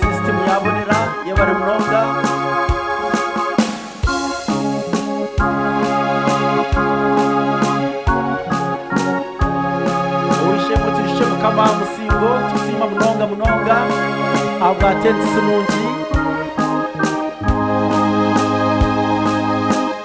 Sisitimu ya bonera yebare munonga. Ow'eishe-emwe tujuce Mukama aha musingo, tukusiima munonga munonga ahabwa tents nungi.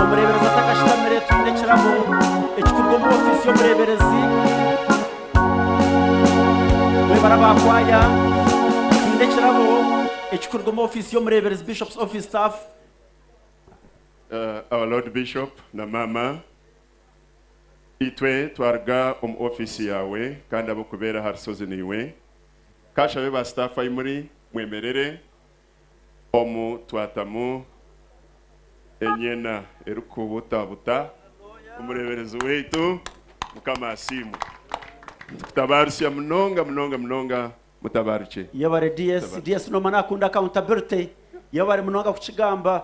Omureeberezi atakashutamire twine ekirabo ekikuruga omu ofiisi y'omureeberezi. Mwebare abaakwaya, twine ekirabo ekikuruga omu ofiisi y'omureeberezi, Bishop's Office Staff. Our Lord Bishop na Maama, itwe twaruga omu office yaawe kandi ab'okubeera aha rushozi naiwe. Kanshabe ba staff ahi muri mwemerere omu twatamu enyena erikubutabuta omureeberezi waitu. Mukama asiimwe. Nitukutabaarisia munonga munonga munonga. mutabarukye. Yebare DS. DS nooma naakunda accountability. Yebare munonga kukigamba.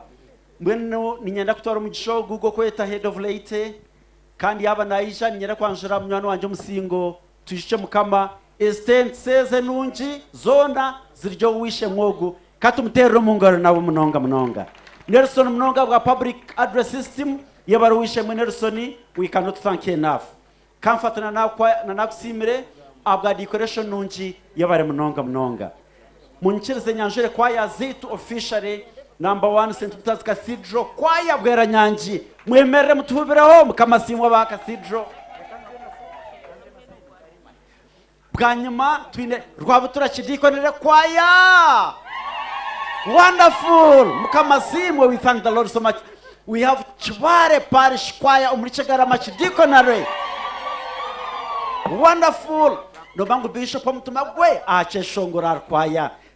Mbwenu niinyenda kutwara omugisha ogu gw'okweta Head of Late kandi yaaba naija niinyenda kwanjura munywani wangye omu musingo Twijukye Mukama. Ezitentsi ezi enungi zoona ziri ow'eisheng'we ogu. Ka tumuteerere omu ngaro nabo munonga munonga. Nelson munonga ahabwa Public Address System. Yebare ow'eisheng'we Nelson. We cannot thank you enough. Ka nfate na naakwa na naakusiimire ahabwa decoration nungi yebare munonga munonga. Munyikirize nyanjure kwaya zeitu officially number one St Peter's Cathedral kwaya Bweranyangi mwemerere mutuhubireho mukama asiimwe aba Cathedral. Bwanyima twine Rwabutura Kidiikonere Kwaya. Wonderful! Mukama asiimwe, we thank the Lord so much. We have Kibaare Parish Kwaya omuri Kyegarama Kidiikonere. Wonderful! Nooba ngu Bishop omutima gwe aha kyeshongoro ari kwaya.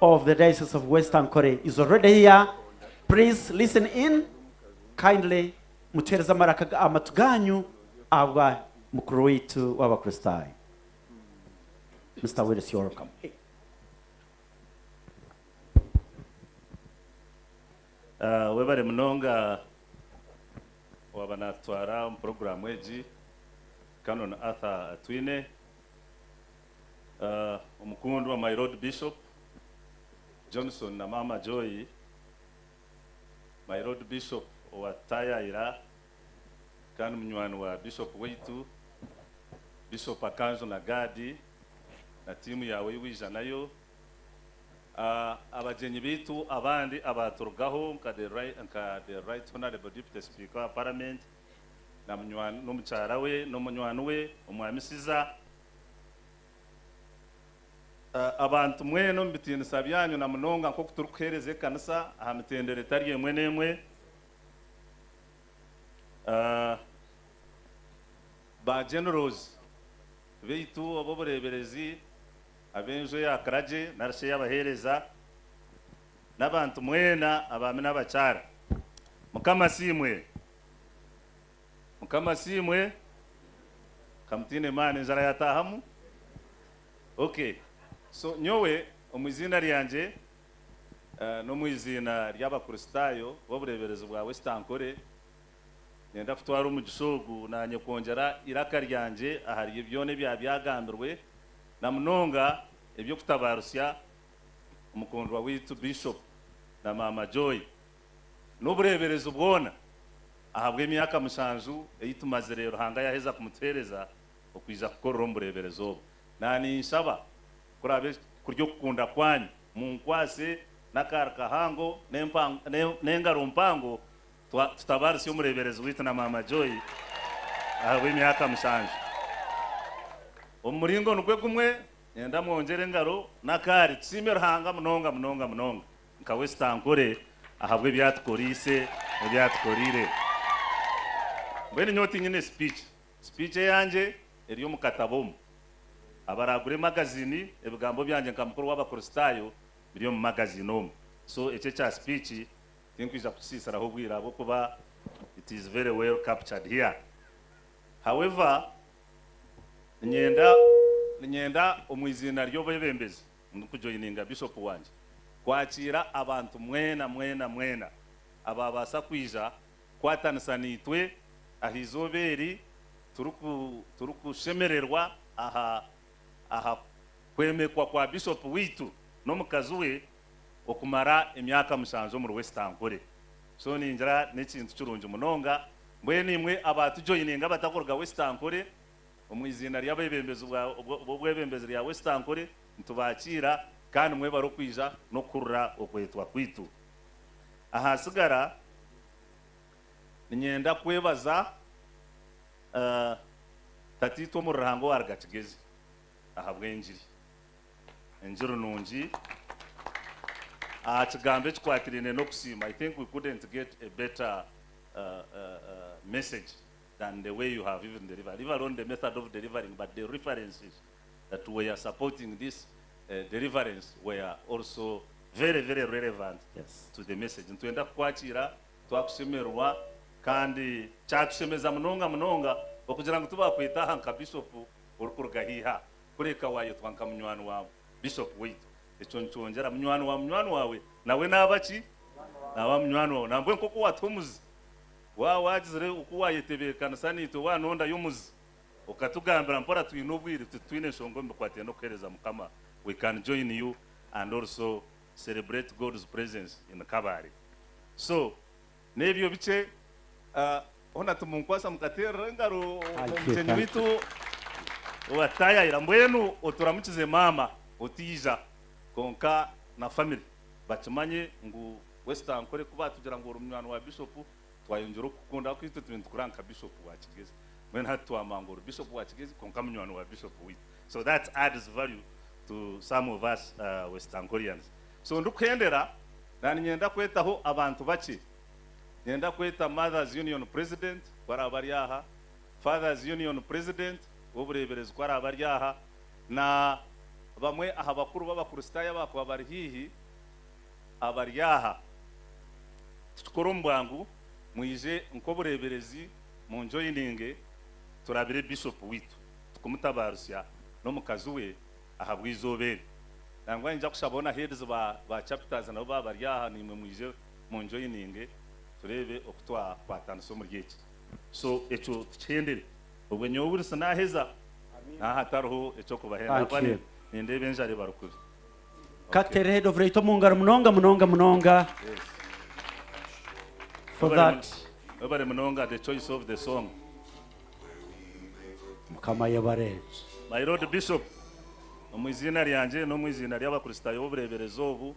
of the diocese of west ankole is already here please listen in kindly mutuhereze amaraka amatu ganyu ahabwa mukuru waitu w'abakristayo Mister Willis you're welcome. Ah, webare munonga waaba naatutwara omu puroguraamu egi, Canon Arthur Atwine. Omukundwa My Lord Bishop Johnson na Maama Joy, My Lord Bishop owatutayaayira kandi munywani wa Bishop waitu, Bishop Akanjo na Gad na tiimu yaawe ei waija nayo, abagyenyi baitu abandi abaaturugaho nka The Right Honourable Deputy Speaker wa Paramenti n'omukyara we n'omunywani we Omwami Siza, Abantu mwena omu bitiinisa byanyu na munonga nk'oku turikuheereza ekanisa aha mitendera etari emwe n'emwe, ba Generals baitu ob'obureeberezi, ab'enju eya Kiragye nari shi ey'abaheereza, n'abantu mwena abaami n'abakyara, Mukama asiimwe. Mukama asiimwe kamutiine maani enjara yataahamu ok so nyowe omwiziina ryangye nomwiziina ryabakuristaayo bobureeberezi bwa West Ankore nenda kutwaara omugisha ogu naanye kwongyera iraka ryangye ahari byoona ebyaaba byagambirwe namunonga ebyokutabaarutsya omukundwa waitu Bishop na maama Joy. n'obureeberezi bwona ahabw'emyaka mushanju ei tumazire Ruhanga yaaheza kumutuheereza okwija kukorera omu bureeberezi obu. Naaninshaba kuraabe kuri okukunda kwanyu munkwase n'akaari kahango n'engaro mpango tutabaarise omureeberezi waitu na Maama Joy ahabw'emyaka mushanju. Omu muringo nigwe gumwe, nyenda mwongyere engaro n'akaari tusiime Ruhanga munonga munonga munonga. Nka Wesitankore ahabw'ebi atukoriise n'ebi atukoreire. Mbwenu nyowe tinyine sipiiki. Sipiiki eyangye eri omu katabo omu. Abaraagure magaziini, ebigambo byangye nka mukuru w'Abakristaayo biri omu magaziini omu. So ekyo ekya sipiiki tinkwija kukisiisiraho obwire ahabw'okuba it is very well captured here. However, ninyenda, ninyenda omu iziina ry'obebembezi Ndi kujoininga Bishop wangye kwakiira abantu mwena mwena mwena abaabaasa kwija kukwatanisa naitwe aha eizooba eri turi kushemererwa aha aha kwemekwa kwa Bishop waitu n'omukazi we okumara emyaka mushanju omuri Wesitankore. So ningira n'ekintu kirungi munonga. Mbwenu imwe abaatujoininga abatakuruga Wesitankore, Omu iziina ry'abeebembezi b'obwebembezi rya West Ankole, nitubaakiira kandi mwebare okwija n'okuhurira okwetwa kwaitu. Ahaatsigara, niinyenda kwebaza Tataitwe omuri Ruhanga owaruga Kigezi ahabw'engiri, engiri nungi, aha kigambo ekikwatiraine n'okusiima. I think we couldn't get a better message. than the way you have even delivered leave alone the method of delivering but the references that were supporting this deliverance were also very very relevant to the message nitwenda kukwakiira twakushemererwa kandi kyatushemeza munonga munonga okugira ngu tubakwete aha nka bishop orikuruga haihi aha kureka wayetwa nka munywani wa bishop waitu ekyo nikyongyera munywani wa munywani wawe nawe naba ki naba munywani wawe nambwe nkoku watuha omuzi Waaba waagizire oku waayetebeekanisa naitwe waanondayo omuzi okatugambira mpora twine obwire titwine nshonga omu bikwataine n'okuheereza Mukama we can join you and also celebrate God's presence in Kabale so n'ebyo bikye hoona timunkwasa mukateerera engaro mugyenyi waitu owaatutaayayira mbwenu oturamukize maama otaija kwonka na family bakimanye ngu Wesitankore ku baatugira ngu ori munywani wa bishopu, twayongyera okukukunda ahakuba itwe tube nitukureba nka bishopu wa Kigezi. Mbwenu hati twamanya ngu ori bishopu wa Kigezi kwonka munywani wa bishopu waitu. So that adds value to some of us Wesitankorians. So ndikuhendera, naaniinyenda kwetaho abantu bakye. Nyenda kweta Mothers Union President ku araabe ari aha, Fathers Union President w'obureeberezi ku araabe ari aha, na bamwe aha bakuru b'Abakristaayo abaakuba bari haihi. abari aha titukora omu bwangu mwije nk'obureeberezi munjoyininge turabire Bishop waitu tukumutabaarusya n'omukazi we ahabw'eizooba eri nangwa ninyija kushaba hoona heads ba ba chapters nabo baaba bari aha naimwe mwije munjoyininge tureebe oku twakwatanisa omuri eki so ekyo tukihendere obwe nyowe Wilson naaheza naaha tariho eky'okubahenda ahabwa nindeeba enjara ebarukubi. Ka tuteere Head of Raito omu ngaro munonga munonga munonga for Webale that. mun- Webale munonga the choice of the song. Mukama ayebare. My Lord Bishop, omu iziina ryangye n'omu iziina ry'Abakristaayo b'obureeberezi obu,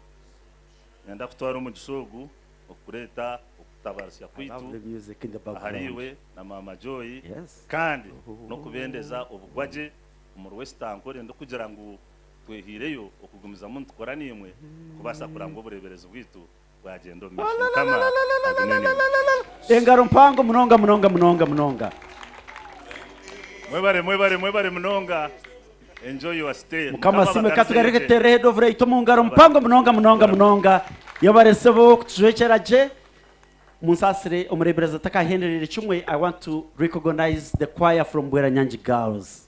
niinyenda kutwara omugisha ogu okukureeta okutabaarisa kwaitu Lovely music in the background. ahariiwe na Maama Joy Yes. kandi n'okubendeza obugwagye omuri West Ankole ndikugira ngu Twehaireyo okugumizamu nitukora naimwe kubaasa kuraba ngu obureeberezi bwaitu bwagyenda omu maisho. Mukama agume naimwe. Engaro mpango munonga munonga munonga munonga. Mwebare mwebare mwebare munonga. Enjoy your stay. Mukama Mukama asiimwe ka tugarire abakarizeyo tuteere Head of Right omu ngaro Mukama mpango abakarizeyo munonga munonga tuteere. munonga. Yebare sebo kutucwecera gye. Munsaasire omureeberezi atakahendereire kimwe. I want to recognize the choir from Bweranyangi Girls.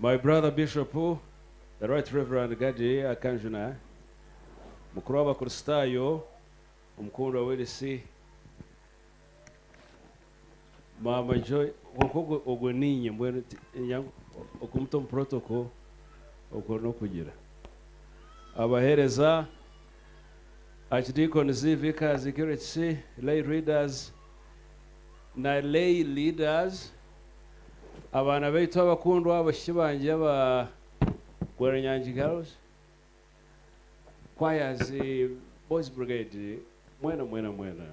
My brother Bishop, the Right Reverend Gadi Akanjuna, mukuru w'abakristaayo, omukundwa w'erisi, maama Joy, kwonka ogwo niinye mbwenu okumuta omu protocol okwo n'okugira, abaheereza. Archdeacons, Vicars, Curates, Lay Readers na Lay Leaders, abaana baitu abakundwa, abashiki bangye aba Gwerenyangi Girls Choirs, Boys Brigade, mwena mwena mwena,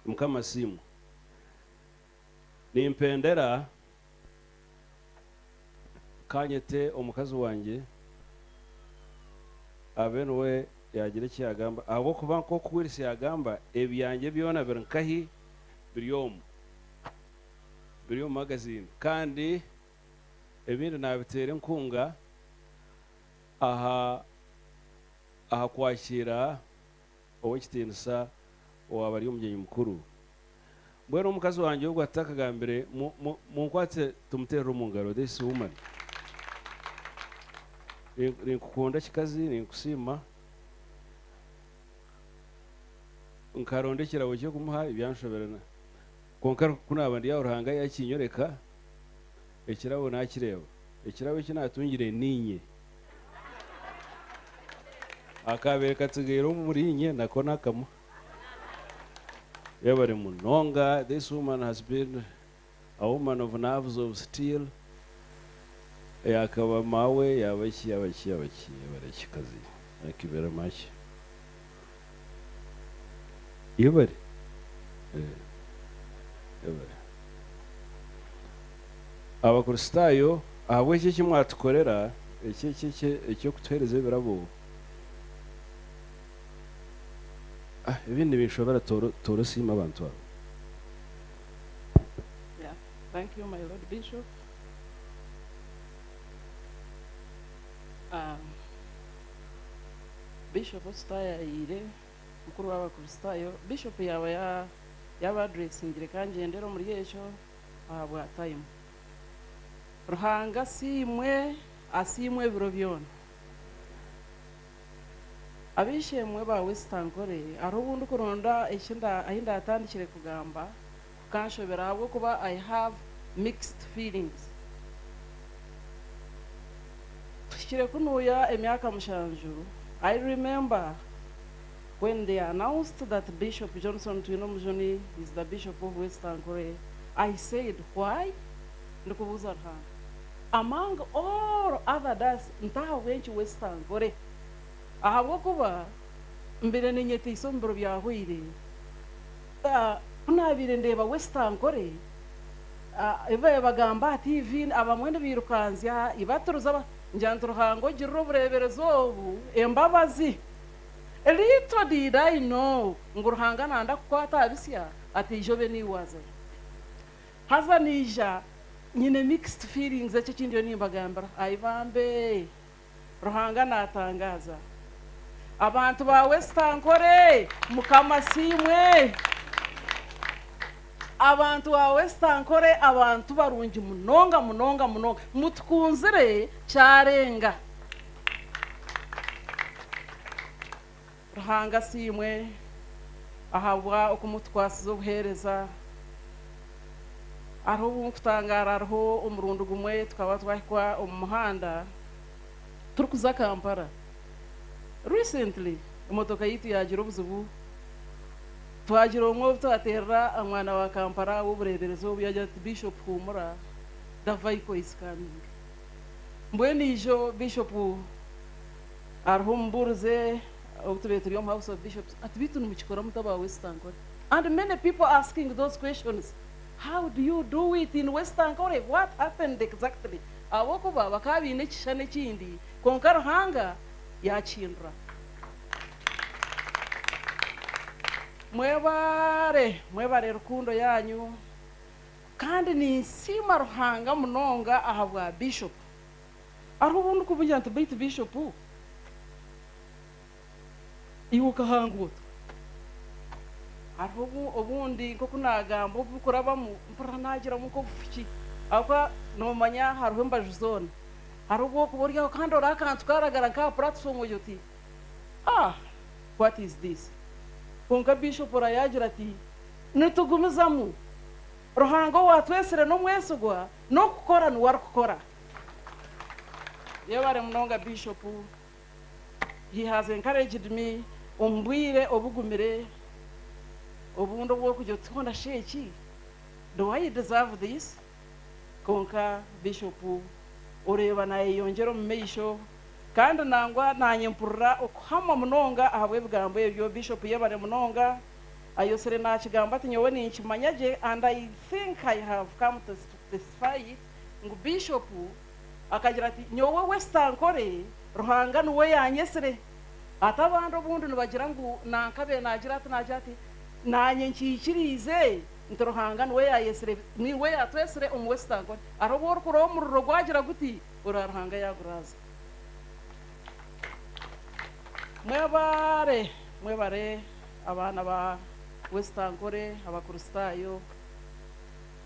Mukama asiimwe. Nimpendera ka nyete omukazi wangye abe niwe yaagira eki yaagamba ahabw'okuba nk'oku Wills yaagamba, ebyangye byona biri nkahi? Biri omu. Biri omu magaziini. Kandi ebindi naabiteera enkunga aha aha kwakiira. ow'ekitiinisa owaaba ari omugyenyi mukuru. Mbwenu omukazi wangye ogwo atakagambire, mu, mu, munkwatse tumuteerere omu ngaro, this woman. Ni, ninkukunda kikazi, ninkusiima. Nkaronda ekirabo ky'okumuha, byanshobera. Na, kwonka ku naaba ndi aho Ruhanga yaakinyoreka. Ekirabo naakireeba. Ekirabo eki naatungire niinye. Akaabaire katsigaire omuriinye nako nakamuha. Yebare munonga this woman has been a woman of nerves of steel yaakaba maawe yaaba ki yaaba ki yaaba ki yebare kikazi thank you very much. Iburi. Abakristaayo, ahabw'ekyo eki mwatukorera, eki, eki, eki, eky'okutuheereza ebirabo, ah, ebindi nibinshobera, tooro, tooro siima abantu abo. Yeah. Thank you, my Lord Bishop. Um, Bishop Osita yaayeire mukuru w'Abakristaayo. Bishop yaaba yaaba adresingire ka ngyendere omuri ekyo ahabwa tayimu. Ruhanga asiimwe, asiimwe ebiro byona. Ab'eishe-emwe ba Wesitankore, hariho obu ndikuronda ahi ndaatandikire kugamba, Kukanshobera ahabw'okuba I have mixed feelings. Kuhikire ku nuuya emyaka mushanju, I remember when they announced that Bishop Johnson Twinomujuni is the Bishop of West Ankole, I said why? Ndikubuuza Ruhanga, among all other das nti ahabw'enki West Ankole? Ahabw'okuba mbaire ninyetaisa omu biro byahweire. Ku naabaire ndeeba West Ankole, ebi baabaire nibagamba aha tiivi, abamwe nibairukanzya ibaturuza nigira nti, Ruhanga ogirire obureeberezi obu embabazi. Little did I know ngu Ruhanga naanda kukwata aha bisya ati eija obe niiwe waazayo. Haza naija nyine mixed feelings, eki eki ndiyo nimbagambira. Ayi bambe! Ruhanga naatangaaza abantu baawe esitankore. Mukama asiimwe. Abantu baawe esitankore abantu barungi munonga munonga munonga. Mutukunzire kyarenga. Ruhanga asiimwe ahabwa okumutukwasize obuheereza. Hariho obu nkutangaara hariho omurundi gumwe tukaba twahikwa omu muhanda turikuza Kampala. Recently emotoka yaitu yaagira obuzibu, twagira omwe obu twateerera aha mwana wa Kampala ow'obureeberezi obu yaagira ati, Bishop huumura, the vico is coming. Mbwenu ijo Bishop. Hariho omubuurize obu tubaire turi omu House of Bishops ati beitu nimukikora muta ba West Ankole and many people are asking those questions how do you do it in West Ankole what happened exactly ahabw'okuba bakaba baine ekishushani ekindi kwonka Ruhanga yakihindura Mwebare mwebare rukundo yaanyu kandi ninsiima Ruhanga munonga ahabwa Bishop. Hariho obu ndikubungira nti, Baitu Bishopu, iwe okahanga ota? Hariho obundi nk'oku naagamba obu bikurabamu, mpurira naagiramu nk'obufuki ahabw'okuba noomanya hariho embaju zoona. Hariho obu orikuba ori aho kandi oraba akantu kaaragara nk'aha puratifoomu ogira oti, Ah! What is this? Kwonka Bishopu oraba yaagira ati, Nitugumizamu! Ruhanga owaatwetsire n'omwesigwa, n'okukora niwe arikukora. Yebare munonga Bishop, he has encouraged me omu bwire obugumire obundi obwokugira oti hoona shi eki do I deserve this? Kwonka Bishop oreeba nayeyongyera omu maisho kandi nangwa nanye mpurira okuhamwa munonga ahabw'ebigambo ebyo. Bishop yebare munonga. Ayosire nakigamba ati nyowe ninkimanya gye and I think I have come to testify it. Ngu Bishop akagira ati, Nyowe West Ankole Ruhanga nuwe yanyetsire. Ati abandi obundi nibagira ngu nankabe nagira ati nagira ati, Nanye nkikiriize nti Ruhanga nuwe yayetsire niwe yatwetsire omu West Ankole. Hariho obu orikuroha omuriro gwagira guti orora Ruhanga yaguraaza. Mwebare mwebare abaana ba West Ankole, Abakristaayo.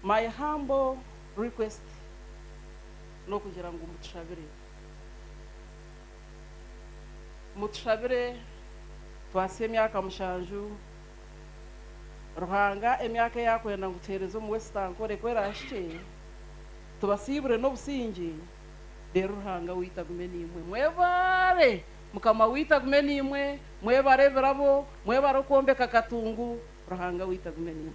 My humble request nokugira ngu mutushabire mutushabire twasya emyaka mushanju Ruhanga emyaka eyakwenda ngu tuhereze omu West Ankole ku erahikye tubasiibure nobusingye reero Ruhanga waitu agume naimwe mwebaare mukama waitu agume naimwe mwebare ebirabo mwebare okwombeka Katungu Ruhanga waitu agume naiwe.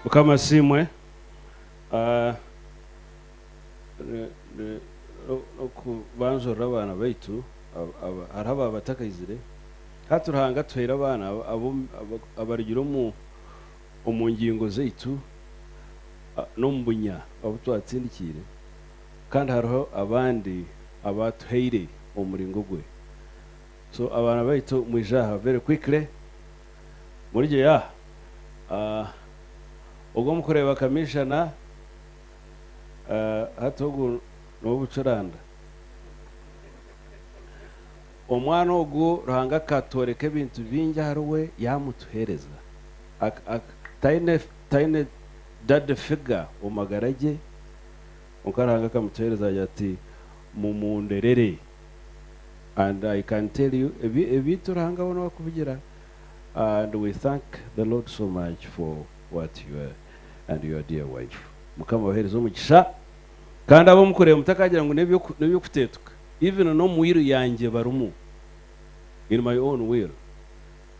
Mukama asiimwe ah, n'okubanjurira abaana baitu hariho abaaba batakaizire hati Ruhanga atuhaire abaana abarugire omu omu ngingo zaitu n'omu bunya obu twatsindikiire, kandi hariho abandi abaatuhaire omu muringo gwe. So abaana baitu mwije aha very quickly, murije yaaha. Ogwo mukureeba Kamishana, hati ogu n'ow'obucuranda. Omwana ogu Ruhanga akatworeka ebintu bingi ahari we yaamutuheereza. Taine taine daddy figure omu magara gye, kwonka Ruhanga akamutuheereza yaagira ati, Mumunderere. And I can tell you ebi ebintu Ruhanga we n'owa kubigira and we thank the Lord so much for what you are and your dear wife. Mukama abaheereze omugisha. Kandi abu mukureeba mutakagira ngu n'eby'okuteetuka, even n'omu will yangye barimu, in my own will,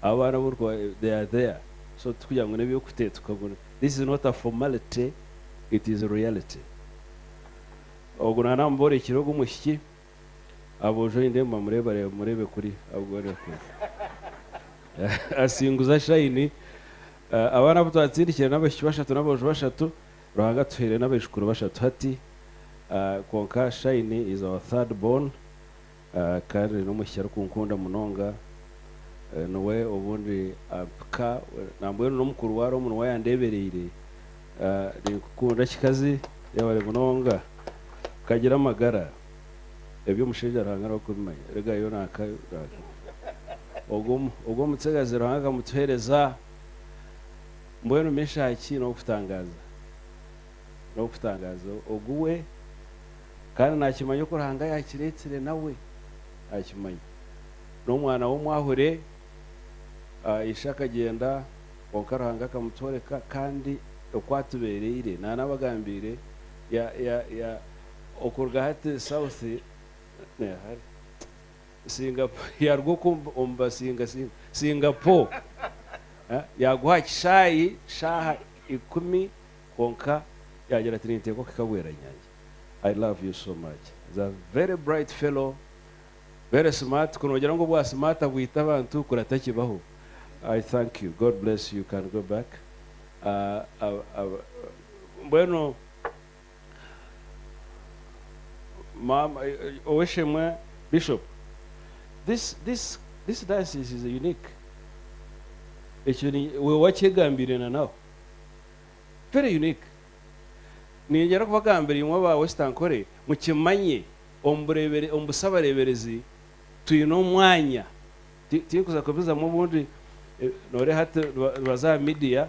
abo abaana abu orikuba, they are there, so tikugira ngu n'eby'okuteetuka, this is not a formality, it is reality. Ogu naaba naamuboorekire ogu omwishiki, aboojo nindeeba nibamureebareeba, mureebe kuri, abugureebe kuri. Asinguza shine, abaana abu twatsindikire n'abaishiki bashatu n'aboojo bashatu, Ruhanga atuhaire n'abaijukuru bashatu hati kwonka Shine is our third born kandi n'omwishiki arikunkunda munonga niwe obundi ampika nambwenu n'omukuru waaba ari omu nwa yandeebereire Ninkukunda kikazi yebare munonga kagira amagara Eby'omushaija Ruhanga niwe arikubimanya rega yo nanka Ogwo omutsigazi Ruhanga akamutuheereza. Mbwenu Meshaki n'ow'okutangaaza, n'ow'okutangaaza ogu we, kandi naakimanya oku Ruhanga yaakireetsire nawe akimanya. N'omwana w'omwahure, ishe akagyenda, kwonka Ruhanga akamutworeka, kandi oku atubeereire, naanabagambiire, ya, ya, ya, okuruga hati south, Singapore yaruga oku omu basinga singa Singapore yaguha aha kishaayi shaaha ikumi kwonka yagira ati ninteeka okuhika bweranyangi I love you so much is a very bright fellow very smart ku nogira ngu obwa smart abwita abantu kurata kibaho I thank you God bless you can go back mbwenu Maama ow'eshemwe Bishop this this this diocese is unique ekyo ni we wakyegambiire na nawe very unique ningira kubagambira imwe aba West Ankore mukimanye omu bureebere omu busabareeberezi twine omwanya ti tinkuza kubizamu obundi eh, nooreeha hati nibaza aha media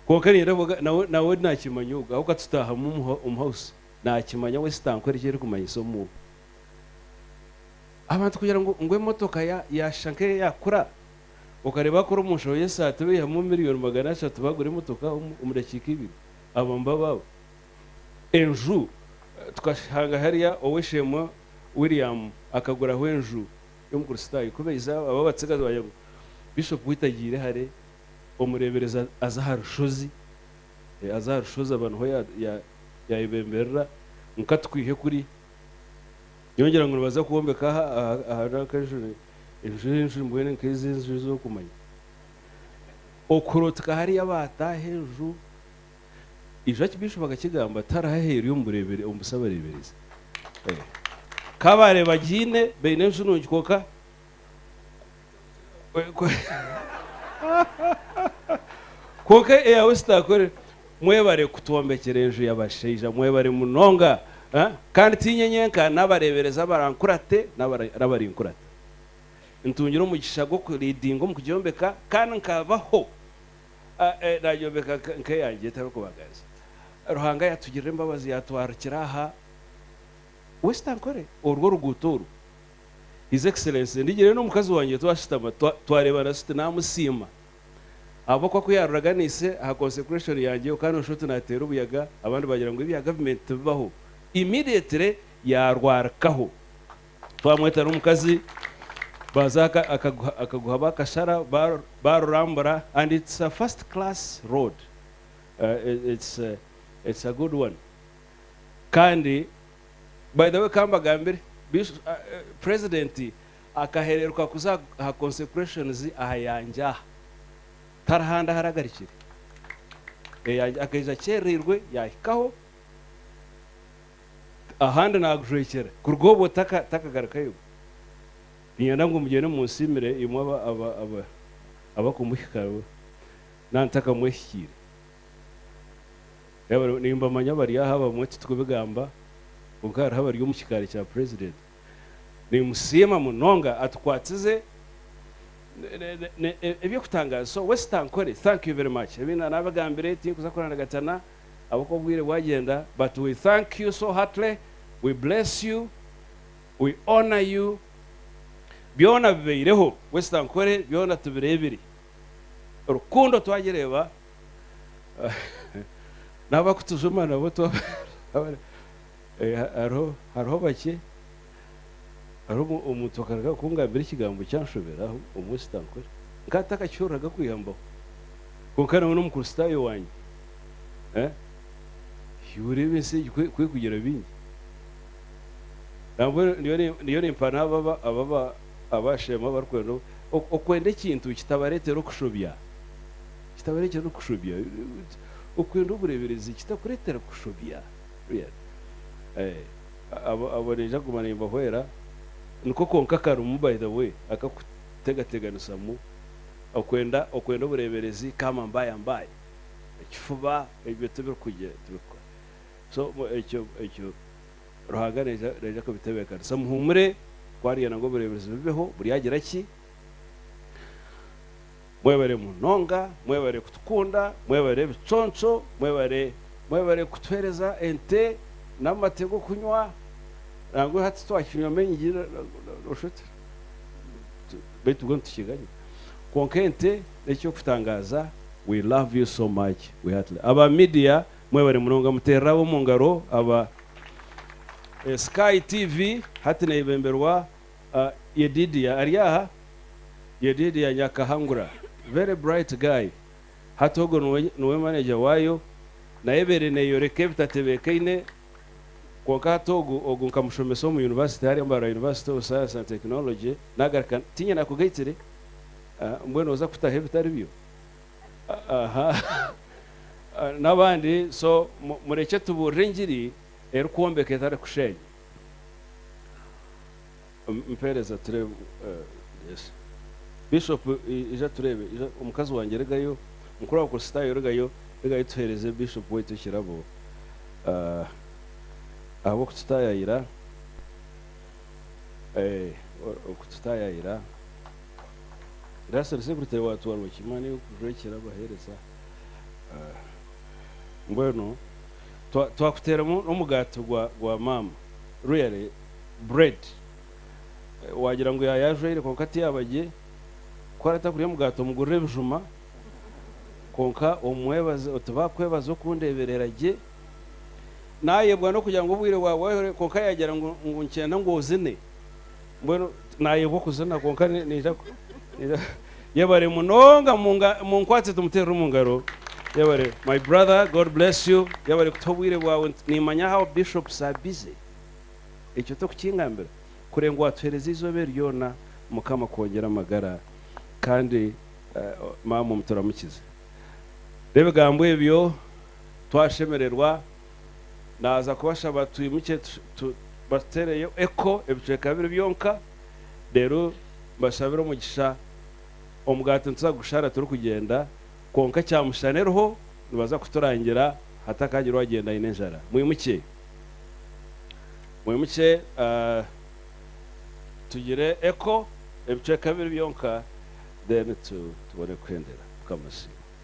Kwonka niinyenda kuvuga nawe nawe naakimanya ogwo ahabw'okuba tutaahamu omu omu hawusi naakimanya we sitaankuhera eki erikumanyisa omu Abantu kugira ngu ngu emotoka ya yaashusha nk'eyaakura okareeba akora omu nshoho y'esaati baihamu miriyoni magana ashatu baagura emotoka omu omu dakiika ibiri abo nibo abaabo. Enju tukashanga hariya ow'eishe-emwe William akaguraho enju y'omukristaayo kubaija abo abatsigazi baagira ngu Bishop ku hitagiire hare Omureeberezi aza aha rushozi, aza aha rushozi aba niho yaayebemberera ngu ka tukwihe kuri. Nyowe ngira ngu nibaza kwombeka aha rw'akanju, enju enju mbwenu nk'ezi enju ezi orikumanya. Okurooteka hariya baataaha enju, ijo Archbishop akakigamba ati hariho aheeru omu busabareeberezi. Ka baareeba agiine, baine enju nungi kwonka. Kwonka eyawe sitaakore. Mwebare kutwombekyera enju yabashaija mwebare munonga Kandi tiinye nyenka nabareberezi abarankurate nabarinkurata ntungire omugisha gwoku leadinga omu kugyombeka Kandi nkabaho nagyombeka nkeyangye ntarikubagariza Ruhanga yatugirira embabazi yatwarukira aha we sitankore orwo oruguuto oru His Excellency, ndigire n'omukazi wangye twashutama twareebana tuti naamusiima ahabw'okuba ku yaaruraga na ise aha consecration yangye oka nooshusha oti naateera obuyaga abandi baagira ngu ebya gavumenti tibibaho. Immediately yaarwarikaho twamweta n'omukazi baaza akaguha baakashara baarurambura and it's a first class road it's a good one kandi By the way kambagambire, president akahereruka kuza aha consecrations aha yangye aha, tari handi ahari agarikire, eyangye akaija akyerereirwe yahikaho, ahandi nagujwekyera, kuruga obwo takagarukayo, ninyenda ngu mugyende munsiimire imwe abakumuhikaho nantakamuhikiire. Nimbamanya abari aha abamwe titukubigamba kwonka hariho abari omu kikaari kya president. Nimusiima munonga atukwatize eby'okutangaaza so waste ankore thank you very much ebi nabagambire tinkuza kurandagatyana ahabw'okuba obwire bwagyenda but we thank you so heartily we bless you we honour you byona bibeireho waste ankore byona tubireebire rukundo twagireeba. n'abakutujuma nabo eh, hariho hariho bakye hariho omuntu akaruga kungambira ekigambo kyanshoberaho omwe sitankore nkaba ntakakihuriraga kwiha mbaho kwonka nawe n'omukristaayo wange eh, oreeba ensi egi kwekugira bingi nambwenu niyo nimpa n'abo abashema abarikwenda okwenda ekintu kitabareetera okushobya kitabareetera n'okushobya. Okwenda obureeberezi kitakureetera kushobya. Abo naija kuguma nimbahwera. Niko konka karimu by the way akakutegateganisamu. Okwenda obureeberezi kaama mbaya mbaya. Ekifuba ebyo tibirikukora. So ekyo ekyo Ruhanga naija kubitebeekanisa. Muhuumure ku ariyenda ngu obureeberezi bubeho buryagira ki? Mwebare munonga, mwebare kutukunda, mwebare ebiconco, mwebare mwebare kutuhereza ente n'amate g'okunywa, nangwa hati twakinywa maingi noshusha oti baitu mbwenu tukiganye kwonka ente n'eky'okutangaaza we love you so much we heartily aba media mwebare munonga muterere ab'omungaro aba Sky TV hati nebemberwa. Yedidiah ari aha? Yedidiah Nyakahangura very bright guy hati ogwo niwe manager waayo nayo ebaire neyoreka ebitatebeekaine kwonka hati ogu ogu nkamushomesa omu university hariya Mbarara University of Science and Technology naagaruka tiinya nakugaitire mbwenu oza kutaho ebitaribyo aha n'abandi so murekye tubuurire engiri erikwombeka etarikusheenya. mpeereza tureebe yes bishop ija tureebe ija omukazi wangye regayo mukuru wa kurisitaayo regayo regayo tuheereze bishop waitu ekirabo ah, ahabw'okututaayayira eh, okututaayayira raseri sekuritere waatwarwa ki mani kujwa ekirabo aheereza ah, mbwenu Twakuteeramu n'omugaati gwa maama. Really bread waagira ngu yaaye ajwaire kwonka tiyaba gye. Ku aratakurya omugaati omugurira ebijuma kwonka omwebaze oti baakwebaza okundeeberera gye. Naayebwa n'okugira ngu obwire bwaba bwahwera kwonka yaagira ngu nikyenda ngu ozine. Mbwenu naayebwa okuzina kwonka naija naija Yebare munonga munkwatse tumuteerere omu ngaro Yebare my brother God bless you Yebare kutuha obwire bwaawe nimanya how bishops are busy ekyo tokukingambira kuree ngu watuheereza eizooba eri ryoona mukama akwongyere amagara kandi maama omuturamukize n'ebigambo ebyo twashemererwa. Naaza kubashaba twimukye batuteereyo Eko ebicweka bibiri byonka reero mbashabire omugisha. Omugaati nituza kugushara turikugyenda kwonka kyamushana eriho nibaza kuturangira hatakaagira owagyenda aine enjara. Mwimukye. Mwimukye tugire Eko ebicweka bibiri byonka then tubone kuhendera. Mukama asiimwe.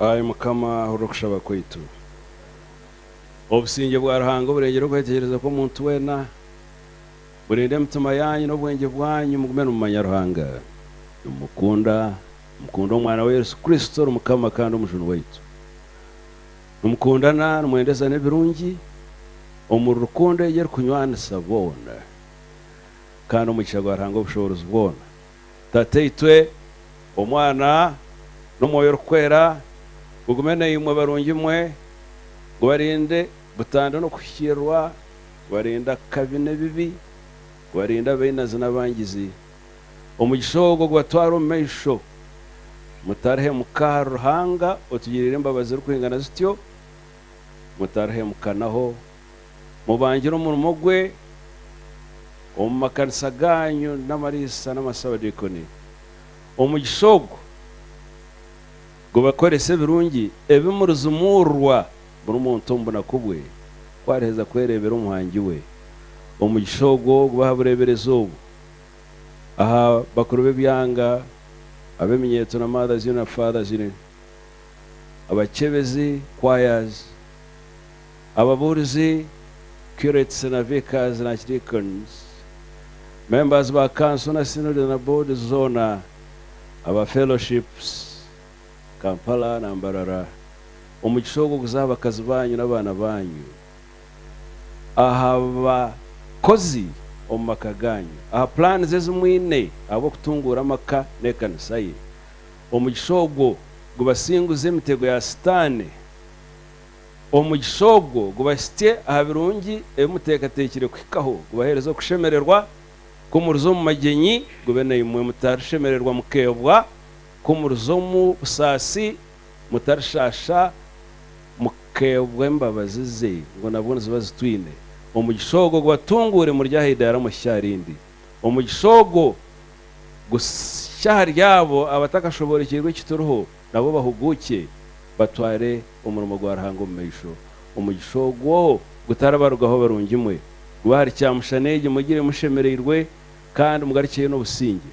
Ai Mukama, hurira okushaba kwaitu. Obusingye bwa Ruhanga oburengire okwetegyereza kw'omuntu weena, burinde emitima yaanyu n'obwengye bwanyu mugume nimumanya Ruhanga, nimumukunda, nimukunde Omwana we Yesu Kristo ori Mukama kandi Omujuni waitu. Nimukundana, nimwendezana ebirungi omuri rukundo egi erikunywanisa boona. Kandi omugisha gwa Ruhanga Obushoboorozi bwoona, Tataitwe, Omwana, n'Omwoyo Orikweera gugume naimwe barungi mwe, gubarinde butandwa n'okuhikiirirwa, gubarinde akabi n'ebibi, gubarinde abainazi n'abangizi, Omugisha ogwo gubatware omu maisho. Mutarihemuka ahari Ruhanga otugiriire embabazi zirikwingana zityo. Mutarihemukanaho. Mubangire omurimo gwe omu makanisa gaanyu n'amariisa n'amasaabadiikoni. Omugisha ogwo gubakorese ebirungi ebi murizimuurirwa buri muntu omu bunaku bwe ku ariheza kwereebera Omuhangi we. Omugisha ogwo gubahe bureeberezi obu. aha bakuru b'ebyanga, ab'eminyetso na Mother's Union na Father's Union, abakyebezi, choirs, ababuurizi, curates na vicars na archdeacons, members ba kanso na synods na boards zoona, aba fellowships, Kampala na Mbarara, omugisha ogwo guze aha bakazi baanyu n'abaana baanyu. aha bakozi omu maka gaanyu, aha pulaani ezi mwine ahabw'okutunguura amaka n'ekanisa ye. Omugisha ogwo gubasinguze emitego ya Sitaane. Omugisha ogwo gubahitsye aha birungi ebi muteekateekire kuhikaho, gubaheereze okushemererwa ku muriza omu magyenyi, gube naimwe mutarishemererwa mukeebwa ku muriza omu busaasi, Mutarishaasha mukeebwa embabazi ze, ngu nabwo niziba zitwine. Omugisha ogwo gubatunguure muri aha idaara omu hitsya rindi. Omugisha ogwo gushya ahari abo abatakashoboorokyerwe eki turiho, nabo bahuguukye batware omurimo gwa Ruhanga omu maisho. Omugisha ogwo gutaribarugaho barungimwe, gube ahari kyamushana egi mugire mushemereirwe kandi mugarukyeyo n'obusingye.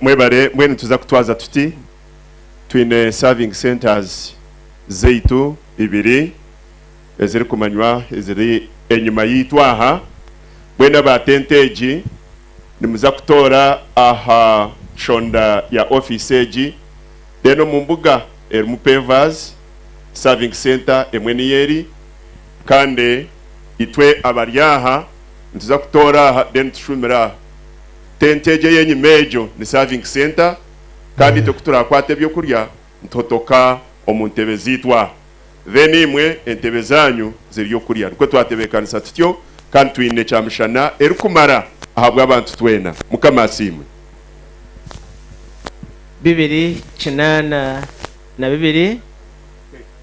Mwebare, mbwenu nituza kutwaza tuti? Twine serving centers zaitu ibiri eziri kumanywa eziri enyima yaitu aha, mbwenu aba tente egi nimuza kutoora aha nshonda ya office egi, then omu mbuga erimu pavers, serving center emwe niyo eri. Kandi itwe abari aha nituza kutoora aha then tushuumire aha tenti egyo ey'enyima egyo ni serving center kandi itwe kuturakwata eby'okurya nituhotoka omu ntebe zaitu aha then imwe entebe zaanyu z'ery'okurya nikwo twatebeekanisa tutyo kandi twine kyamishana erikumara ahabw'abantu twena mukama asiimwe. bibiri kinaana na bibiri.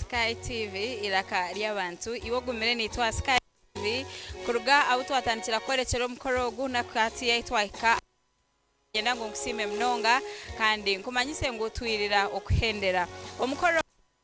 Sky TV eiraka ry'abantu iwe ogumire naitwe aha Sky TV kuruga ahu twatandikira kukworekyera omukoro ogu naku hati ahu twahika niinyenda ngu nkusiime munonga kandi nkumanyise ngu twirira okuhendera omukoro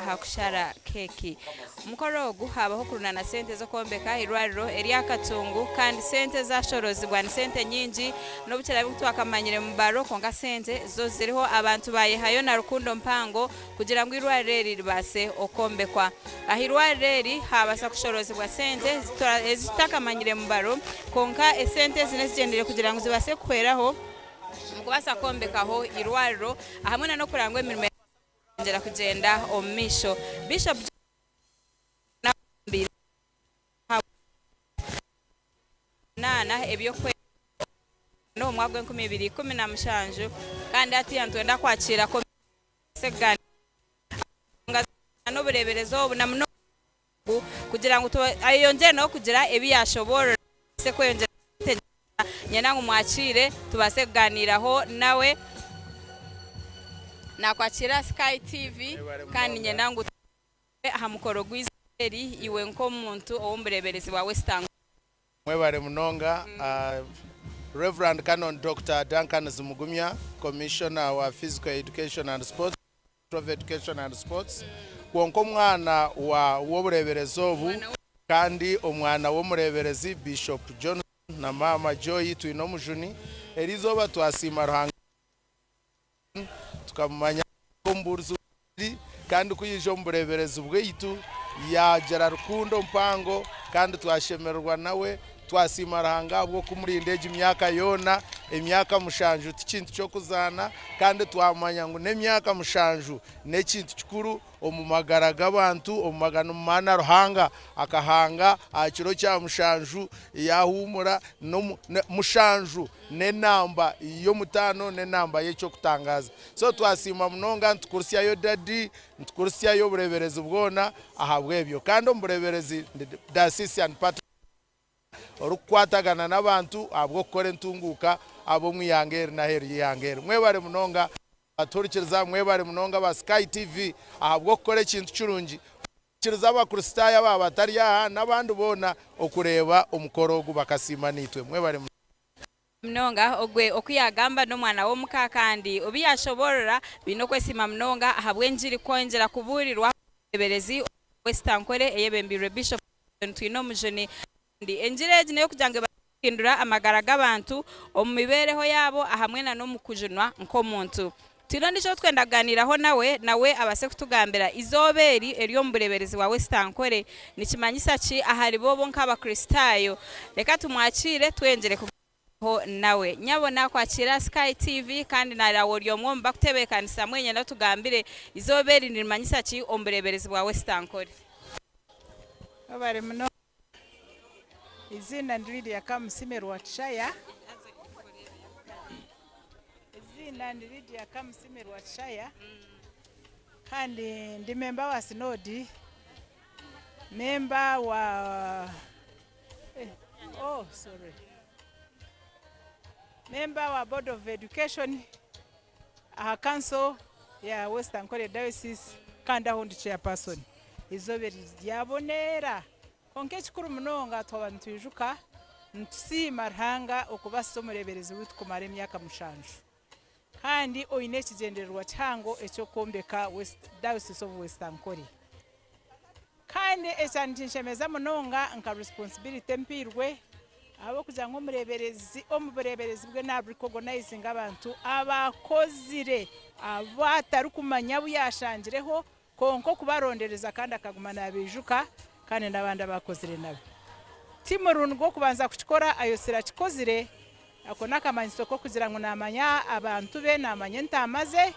aha kushara keeki. Omukoro ogu haabaho okurundaana sente z'okwombeka eirwariro erya Katungu kandi sente ezaashoroozibwa ni sente nyingi n'obu kiraabe ngu twakamanyire mu baro kwonka sente zo ziriho. Abantu baayehayo na rukundo mpango kugira ngu eirwariro eri ribaase okwombekwa. Aha eirwariro eri haabaasa kushoroozibwa sente ezi tutaakamanyire mu baro kwonka esente ezi n'ezigyendeire kugira ngu zibaase kuhweraho omu kubaasa kwombekaho eirwariro hamwe n'okureba ngu emirimo... Twongera kugyenda omu maisho, Bishop Joseph Karimanzira n'abarambeire b'Ekanisa y'Omunaana baatungire abaana b'Ekanisa y'Omunaana eby'okwerinda omu mwaka gwa enkumi ibiri ikumi na mushanju kandi hatiiya nitwenda kwakiira komisioni kubaasa kugaaniira aha nshonga z'obunaana, obureeberezi obu na munonga kugira ngu ayeyongyere nawe kugira ebi yaashoboorora tubaase kweyongyera kumwetegyereza. Niinyenda ngu mwakiire tubaase kugaaniiraho nawe. Naakwakiire aha Sky TV kandi niinyenda ngu tugaaniire aha mukoro gw'eizooba eri iwe nk'omuntu ow'omu bureeberezi bwa West Angola. Mwebare munonga. Rev. Canon Doctor Duncan Zimugumya, Commissioner wa Physical Education and Sports, of Education and Sports, kwonka omwana wa w'obureeberezi obu kandi omwana w'omureeberezi Bishop Johnson na Maama Joy Twinomujuni, eri izooba twasiima Ruhanga John tukamumanya nk'omubuurizi w'enjiri kandi ku yaija omu bureeberezi bwaitu yaagira rukundo mpango kandi twashemererwa nawe Twasiima Ruhanga ahabw'okumurinda egi myaka yoona. Emyaka mushanju ti kintu ky'okuzaana, kandi twamanya ngu n'emyaka mushanju n'ekintu kikuru omu magara g'abantu. Omu maganu maana Ruhanga akahanga aha kiro kya mushanju yaahuumura. Mushanju n'enamba y'omutaano, n'enamba y'eky'okutangaaza. So twasiima munonga, nitukurisyayo Dadi, nitukurisyayo obureeberezi bwona ahabw'ebyo. Kandi omu bureeberezi ndi Diocesan Patron. orikukwatagana n'abantu ahabw'okukora entunguuka ab'omu ihanga eri n'aheeru y'eihanga eri. Mwebare munonga abatuhurikiriza. Mwebare munonga aba Sky TV ahabw'okukora ekintu kirungi kuhikiriza Abakristaayo aba batari aha n'abandi boona okureeba omukoro ogu bakasiima naitwe. Mwebare munonga. Munonga, ogwe oku yaagamba n'omwana w'omuka kandi obu yaashoboorora baine okwesiima munonga ahabw'engiri kwongyera kubuurirwa omu bureeberezi omu mwaka gw'esitankore eyebembeirwe Bishop Dickson Twinomujuni kandi engiri egi n'ey'okugira ngu ebaase kuhindura amagara g'abantu omu mibeereho yaabo ahamwe n'omu kujunwa nk'omuntu. Twine ondiijo ou twenda kugaaniiraho nawe, nawe abaase kutugambira, Eizooba eri eri omu bureeberezi bwa Wesitankore nikimanyisa ki ahari bo bo nk'Abakristaayo? Reka tumwakiire twengire kugaaniiraho nawe. Nyabo naakwakiire aha Sky TV kandi naaraabe ori omwe omu bakutebeekanisa. Mbwenu nyenda otugambire, Eizooba eri nirimanyisa ki omu bureeberezi bwa Wesitankore? Webare munonga. Eiziina ni Lydia Kamusime Rwakishaya Eiziina ni Lydia Kamusime Rwakishaya kandi ndi memba wa sinoodi memba wa oh sorry memba wa board of education aha kanso ya West Ankole Diocese kandi aho ndi Chairperson. Eizooba eri ryaboneera, kwonka ekikuru munonga twaba nitwijuka nitusiima Ruhanga okubaasisa omureeberezi waitu kumara emyaka mushanju kandi oine ekigyendererwa kihango eky'okwombeka Diocese of West Ankole. Kandi ekya nikinshemeza munonga nka responsibility empiirwe ahabw'okugira ngu omureeberezi omu bureeberezi bwe na recognizinga abantu abaakozire abu atarikumanya abu yaashangireho kwonka okubarondereza kandi akaguma naabaijuka kandi n'abandi abaakozire nabo. Ti murundi gw'okubanza kukikora, Ayosi Rakikozire Ako n'akamanyiso k'okugira ngu naamanya abantu be, naamanya entaama ze,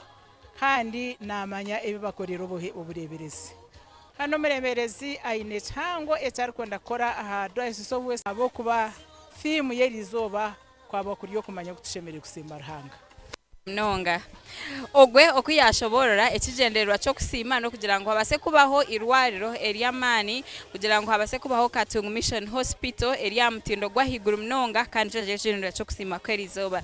kandi naamanya ebi bakoreire obuhe obureeberezi. Hanu omureeberezi aine ekihango eki arikwenda kukora aha Diocese of West ahabw'okuba thiimu y'eri izooba kwaba kuri okumanya oku tushemereire kusiima Ruhanga. munonga ogwe oku yaashoboorora ekigyendererwa ky'okusiima n'okugira ngu habaase kubaho eirwariro ery'amaani kugira ngu habaase kubaho Katungu Mission Hospital eri aha mutindo gw'ahaiguru munonga kandi nikyo kiri ekigyendererwa ky'okusiima kw'eri izooba.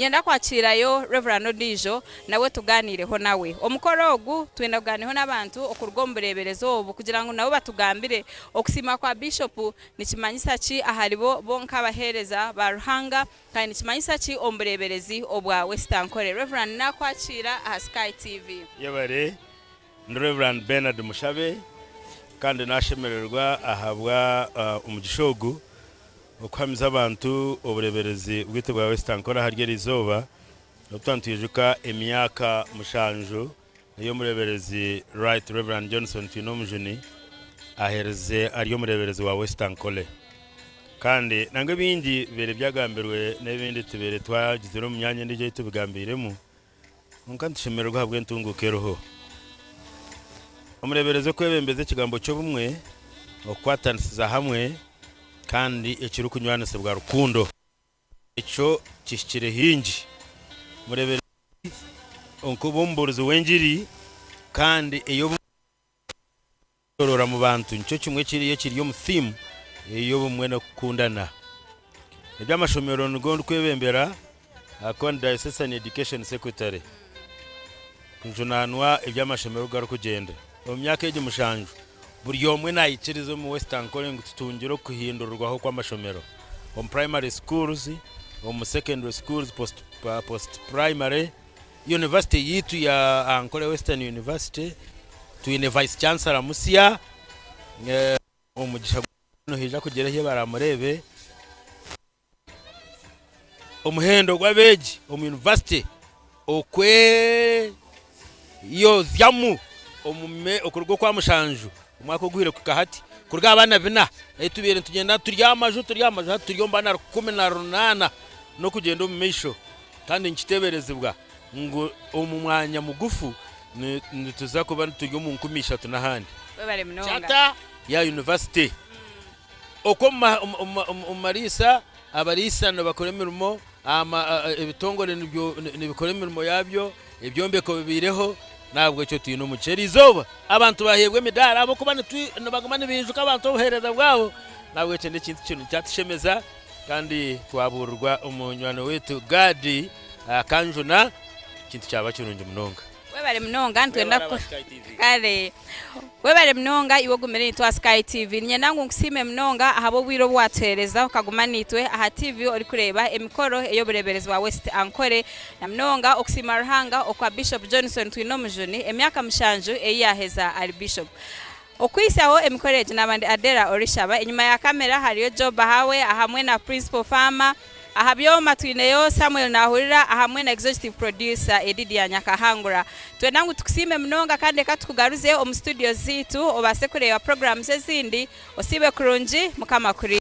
Niinyenda kwakiirayo Rev. Ondiijo nawe tugaaniireho nawe. Omukoro ogu twenda kugaaniiraho n'abantu okuruga omu bureeberezi obu kugira ngu nabo batugambire okusiima kwa Biishopu nikimanyisa ki aharibo bo nk'abaheereza ba Ruhanga Kandi nikimanyisa ki omu bureeberezi obwa Wesitankore? Rev. Naakwakiira aha Sky TV. Yebare, ndi Rev. Bernard Mushabe kandi naashemererwa ahabwa omugisha ogu okuhamiza abantu obureeberezi bwaitu bwa Wesitankore ahari eri izooba obu twaba nitwijuka emyaka mushanju. Oyo Omureeberezi Right Rev. Johnson Twinomujuni aheerize ari Omureeberezi wa West Ankole. Kandi nangwa ebingi bibaire byagambirwe n'ebindi tubaire twagizire omu myanya endiijo ei tubigambiiremu, kwonka nitushemererwa ahabw'entunguuka eriho. Omureeberezi okwebembeza ekigambo ky'obumwe, okukwatanisiza hamwe, kandi ekirikunywanisibwa rukundo. Ekyo kihikire hingi. Mureebere Leevi nk'oba omubuurizi w'engiri kandi ey'obumwe n'okwetoroora mu bantu nikyo kimwe ekiri ekiri omu thiimu ey'obumwe n'okukundana. Eby'amashomero nigo ndikwebembera ahakuba ndi Diocesan Education Secretary kujunaanwa eby'amashomero oku garikugyenda. Omu myaka egi mushanju, buri omwe naikiriza omu West Ankole ngu tutungire okuhindurirwaho kw'amashomero omu primary schools, omu secondary schools, post post primary, University yaitu ya Ankole Western University twine Vice Chancellor musya omugisha gwa Nyankole nihaija kugira ehi baramureebe. Omuhendo gw'abeegi omu yunivasite okweyozyamu omu me okuruga okwa mushanju omwaka oguhire kuhika hati kuruga aha baana bina ei tubaire nitugyenda turi aha maju turi aha maju hati turi omu baana rukumi na runaana n'okugyenda omu maisho. Kandi nikiteeberezibwa ngu omu mwanya mugufu ni nituza kuba turi omu nkumi ishatu n'ahandi. Webare munonga. Charter ya yunivasite. Okwo omu mariisa, abariisa nibakora emirimo, ebitongore nibikora emirimo yaabyo, ebyombeko bibaireho, n'ahabw'ekyo twine omugisha. Eri izooba abantu baaheebwa emidaara ahabw'okuba nibaguma nibaijuka abantu obuheereza bwabo. N'ahabw'ekyo n'ekintu kinu kyatushemeza kandi twabuurirwa omunywani waitu Gaadi akanjuna, ekintu kyaba kirungi munonga. Webare munonga nitwenda kare webare munonga iwe ogumire nitwa sky tv ninyenda ngu nkusiime munonga ahabw'obwire obu watuheereza okaguma naitwe aha tv orikureeba emikoro ey'obureeberezi bwa west ankore na munonga okusiima ruhanga okwa bishop johnson twineomujuni emyaka mushanju ei yaaheza ari bishop Okuhitsyaho emikoro egi naaba ndi Adela Orishaba, enyima ya kamera hariyo Joe Bahawe ahamwe na Principal Farmer, aha byooma twineyo Samuel Nahurira ahamwe na Executive Producer Edidia Nyakahangura. Nitwenda ngu tukusiime munonga kandi reka tukugaruze omu studios zaitu obaase kureeba programs ezindi. Osiibe kurungi, Mukama akuriinde.